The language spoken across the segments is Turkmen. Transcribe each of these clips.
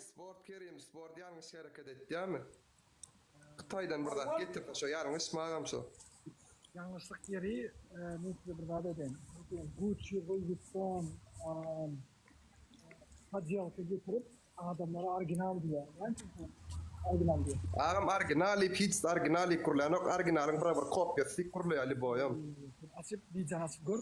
Sport kerim sport ýalňyş hereket etýärmi hytaýdan bir zat getirdi şo ýalňyş magam şo. Ýalňyşlyk ýeri men size bir zat aýdaýyn gucci louis vuitton podýelka getirip adamlara original diýýär näme üçin original diýýär. Agam original diýip hiç zat original diýip gurlanok originalyň bir bir kopýasy diýip gurlaýar lýuboýam. Açyp widýony açyp gör.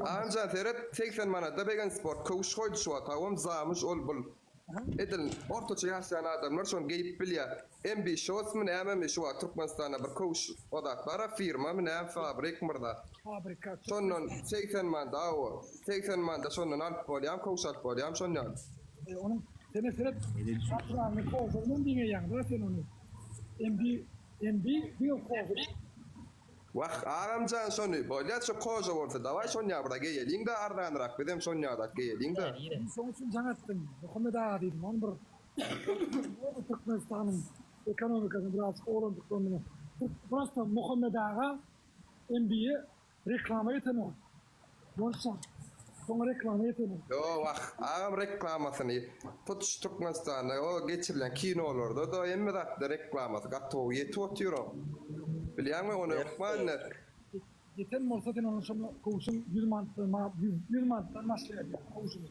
Anjan seret segsen manada begensport köwüş goýdy şu otagam zamyş ol bul edil ortaça ýaşaýan adamlar şony geýip bilýä mbşosmy nämemi şu wagt türkmenistanda bir köwüş ozat bara firmamy näme fabrik myrza şondan segsen manda awo segsen manda şondan alyp bolýam köwüş alyp bolýam şon ýaly. E onuň sene seret şatrany kozyrynam diňeýäňda sen ony mb mb diňe kozyr. Wah, agam jan şony, bolýa şu koja bolsa dawaý şonýa bura geýeliň-dä arzanyrak bizem şonýadak geýeliň-dä. Men şoň üçin jaň etdim, Muhammet aga diýdim, oň bir bolsa Türkmenistanyň ekonomikasyny biraz owalandyklaryny. Prosta Muhammet aga NBA reklama etenok, Bolsa soň reklama ýetelim. Ýoo wah agam reklamasyny hut şu Türkmenistanda o geçirilen kinolarda da hemme zatda reklamasy gatowy ýetip otyr o bilýäňmi ony hökman iner. Ýeten bolsa sen onuň şonda kowşuň ýüz manatdan ýüz manatdan başlaýar ýa kowşuny.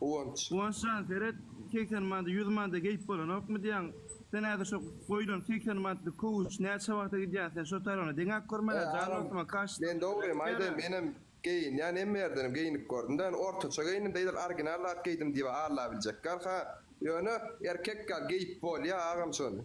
Guwanç. Guwanç jan seret segsen manada ýüz manada geýip bolanokmy diýýäň sen häzir şo goýlan segsen manatlyk kowuş näçe wagta gidýär sen şo tarygyna deňäp görmäne jan dostuma kaş Men dogrymy aýdaýyn menem geýinýän hemme ýerdenem geýnip gördüm da ýöne ortaça geýindim-de edil original zat geýdim diýip allabiljek ýaly ha ýöne erkek ýaly geýip bolýa agam şony.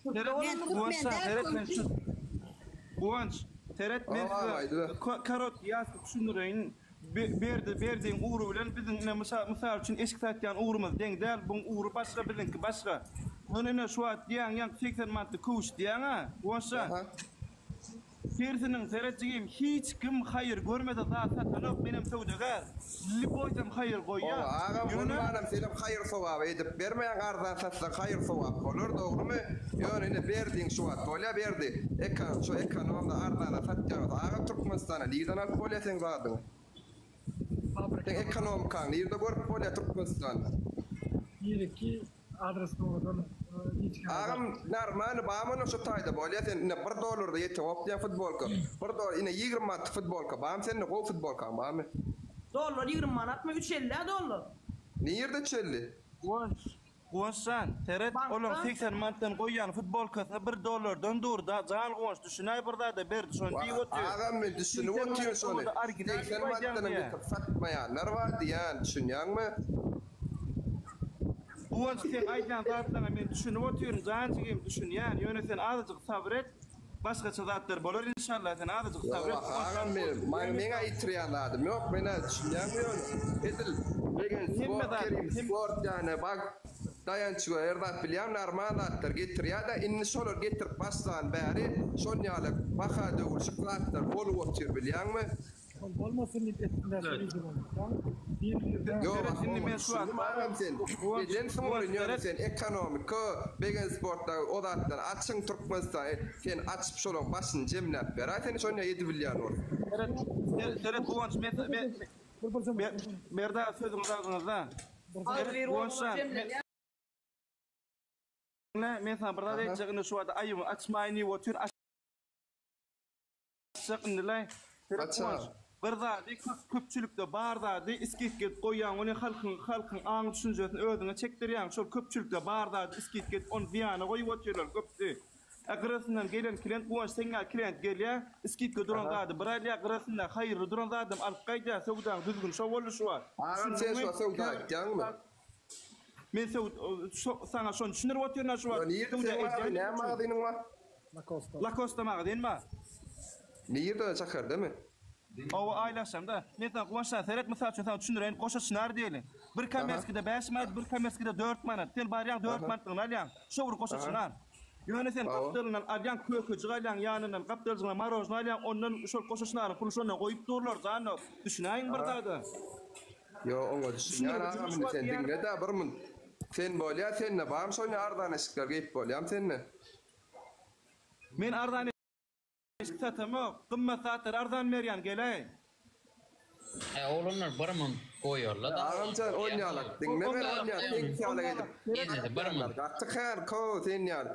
Seret men Guwanç saňa seret men şu Guwanç seret men size karot ýazdy düşündireýin. Berdi berdiň ugry bilen biziň ine mysal mysal üçin eşik satýan ugrumyz deň däl buň ugry başga biziňki başga. Ony ine şu wagt diýýäň ýaňky segsen manatda köwüş diýýäň-ä Guwançjan. Sersiniň seret jigim hiç kim haýyr görmese zat satanok menem söwdagär lli goýsam haýyr goýýa Oba agam bolmanam senem haýyr sogap edip bermäň arzan satsaň haýyr sogap bolar dogrymy ýöne ine berdiň şu wagt bolýa berdi ekan şu ekonomda arzana satýaňyz aga türkmenistana nirden alyp bolýa seň zadyňy. Seň ekonomikaň nirde görüp bolýa Türkmenistanda. Nireki adres dowadan hiç kim. Agam narmaly bamy ony şu taýda bolýa sen ine bir dollarda ýeten opdýan futbolka bir dolar ine ýigrimi manatlyk futbolka bamy sende gowy futbolkaň bamy. Dollar ýigrimi manatmy üç elli-ä dollar. Nirde üç elli. Woy Guwanç jan, seret, olaň segsen manatdan goýýan futbolkasyna bir dollardan dur-da, jan Guwanç, düşünäý bir zada, Berdi şony diýip otyr. Agam men düşünip otyryn şony, segsen manatdanam getirip satmaýanlar bar diýýän, düşünýäňmi? Guwanç, seň aýdýan zatlaryňa men düşünip otyryn jan jigim, düşünýän, ýöne sen azajyk sabyr et. Başgaça zatlar bolar inşallah sen azajyk sabyr et. Ýok agam menem maňa meň aýytyrýan zadym ýok menä düşünýäňmi ýöne edil legend sport kerim sport ýane bag daýançyga her zat bilýän narmal zatlar getirýädä indi şolar getirip başlan bäri şonýale baha döwülşik zatlar bolup otyr bilýäňmi Ol bolmasyn diýip etdiler Ýok Ahy bolmady düşündim agam sen neden soň ýöne sen ekonomika begen sportda o zatlar açyň Türkmenistan sen açyp şolaň başyny jemläp beraý sen şony edibilýän bolup. Seret seret Guwanç men Merdan sözüňizi agzyňyzda seret Guwanç jan men saňa bir zat aýtjak indi şu wagt aýybymy açmaýyn diýip otyr. Aşak indilaý Seret Guwanç bir zady köpçülikde bar zady isgit gedip goýýaň ony halkyň halkyň aň düşünjesini özüňe çekdirýäň şol köpçülikde bar zady isgit gedip ony zyýana goýup otyrlar köpüsi e gyrasyndan gelen klient Guwanç seňňä klient gelýä isgitge duran zady bir alýa gyrasynda haýyrly duran zadam alyp gaýdýa söwdaň düzgün şo boluşy bar düşündiňmi söwda aýtýaňmy. Men söw so saňa şony düşündirip otyryn-a şu wagt. Nirde Söwda seň edýän nä magazynyň bar? Lakosta. Lakosta magazyn bar. Nirde şäherdemi? Oba aýlaşamda. Men saňa Guwançjan seret mysal üçin saňa düşündireýin goşa çynar diýeli. Bir komerskide bäş manat bir komerskide dört manat. Sen barýaň dört manatlygyny alýaň. Şo bir goşa çynar. Ýöne sen gapdalyndan alýaň kökejik alýaň ýanyndan gapdaljygyna marožny alýaň ondan şol goşa çynaryň puly şonda goýup durlar zanno düşünäýiň bir zada. Ýo oňa düşünýän agam indi sen diňledä bir munt sen bolýa sende barmy şony arzan eşikler geýip bolýamy sende. Men arzan eşik satamok gymmat zatlary arzan berýän geleý. He oglanlar bir munt goýarla da. Agamjan onýalak diňle men onýa seňki ýaly edip. Gaty kän köw seň ýaly.